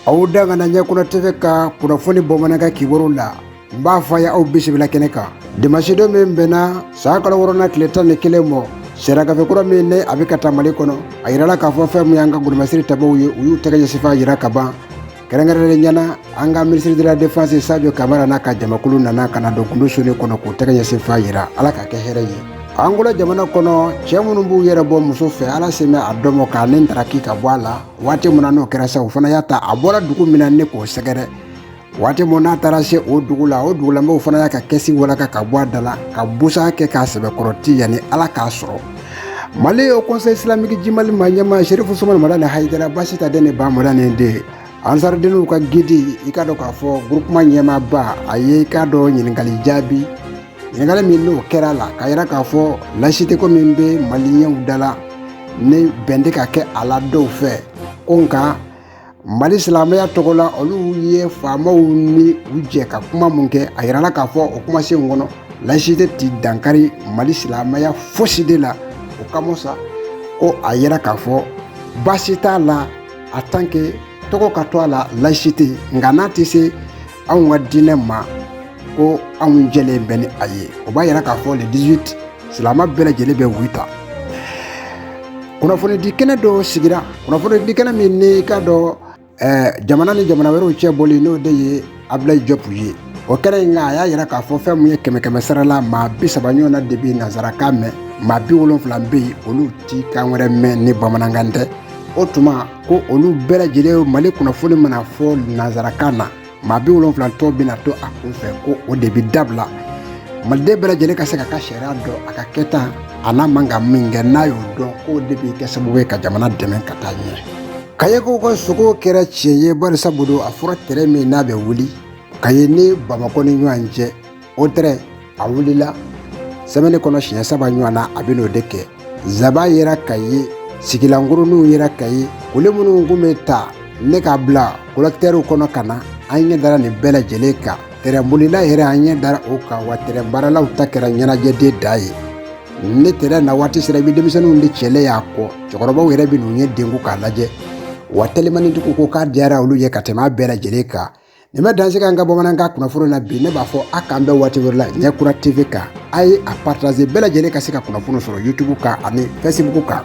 aw da kana ɲɛkura tv ka kunnafoni bamanankan kibaru la n b'a fɔ a ye aw bisimila kɛnɛ kan dimansidon min bɛnna san kalo wɔɔrɔna tile tan ni kelen mɔ siragafe kura min ne a bɛ ka ta mali kɔnɔ a yirala k'a fɔ fɛn min y'an ka golomasiri tabaw ye u y'u tɛgɛ ɲɛsinfan yira ka ban kɛrɛnkɛrɛnnenya na an ka minisiri de la defense sajo kamara n'a ka jamakulu nana ka na don gundosonin kɔnɔ k'u tɛgɛ ɲɛsinfan yira ala ka kɛ hɛrɛ ye angola jamana kɔnɔ cɛ minnu b'u yɛrɛ bɔ muso fɛ ala sen bɛ a dɔmɔ k'a ni ntaraki ka bɔ a la waati min na n'o kɛra sa o fana y'a ta a bɔra dugu min na ne k'o sɛgɛrɛ waati min n'a taara se o dugu la o dugulamɔgɔw fana y'a ka kɛsi walaka ka bɔ a da la ka busan kɛ k'a sɛbɛkɔrɔ ti yanni ala k'a sɔrɔ mali haut conseil islamique du mali ma ɲɛmaa serifu usumani madani hayidara basitan den ni bamadani den ansaridenw ka gidi i k'a dɔn k'a fɔ groupement ɲɛmaaba a ye i k'a dɔn ɲininkali jaabi ɲininkali min n'o kɛra a la k'a yira k'a fɔ layisiteko min bɛ maliyɛnw da la ni bɛn tɛ ka kɛ a la dɔw fɛ ko nka mali silamɛya tɔgɔ la olu ye faamaw ni u jɛ ka kuma min kɛ a yirala k'a fɔ o kumasenw kɔnɔ layisite ti dankari mali silamɛya fosi de la o kama sa ko a yira k'a fɔ baasi t'a la en tant que tɔgɔ ka to a la layisite nka n'a tɛ se anw ka diinɛ ma ko anw jɛlen bɛ ni a ye o b'a yira k'a fɔ le 18 silamɛ bɛɛ lajɛlen bɛ oui ta kunnafonidi kɛnɛ dɔ sigira kunnafonidi kɛnɛ min n'i k'a dɔn eh, jamana ni jamana wɛrɛw cɛ bɔli n'o de ye abulayi jɔpu ye o kɛnɛ in kan a y'a yira k'a fɔ fɛn min ye kɛmɛ kɛmɛ sara la maa bi saba ɲɔgɔn na de bɛ nanzarakan mɛn maa bi wolonfila bɛ yen olu ti kan wɛrɛ mɛn ni bamanankan tɛ o tuma ko olu bɛɛ lajɛlen mali kunnafoni mana fɔ nanzarakan na maa bi wolonfila tɔ bɛna to a kunfɛ ko o de bɛ dabila maliden bɛɛ lajɛlen ka se k'a ka sariya dɔn a ka kɛta a n'a man ka min kɛ n'a y'o dɔn k'o de bɛ kɛ sababu ye ka jamana dɛmɛ ka taa ɲɛ kayekaw ka sugo kɛra tiɲɛ ye barisa bolo a fɔra tɛrɛn min n'a bɛ wuli kaye ni bamakɔ ni ɲɔgɔn cɛ o tɛrɛn a wulila sɛmɛni kɔnɔ siɲɛ saba ɲɔgɔn na a bɛn'o de kɛ zaban yera kaye sigilankurunninw yera kaye koli minnu kun bɛ ta ne k'a bila kolɔtɛriw kɔnɔ ka na an ɲɛ dara nin bɛɛ lajɛlen kan tɛrɛnbolila yɛrɛ an ɲɛ dara o kan wa tɛrɛn baaralaw ta kɛra ɲɛnajɛ de dan ye ni tɛrɛn na waati sera i bɛ denmisɛnninw de cɛlen y'a kɔ cɛkɔrɔbaw yɛrɛ bɛ n'u ɲɛ denko k'a lajɛ wa telimanitigiw ko k'a diyara olu ye ka tɛmɛ a bɛɛ lajɛlen kan nin bɛ dan sigi an ka bamanankan kunnafoni na bi ne b'a fɔ a k'an bɛn waati wɛrɛ la ɲɛkura tv kan a ye a partaze bɛɛ lajɛlen ka se ka kunnafoni sɔrɔ youtube kan ani facebook kan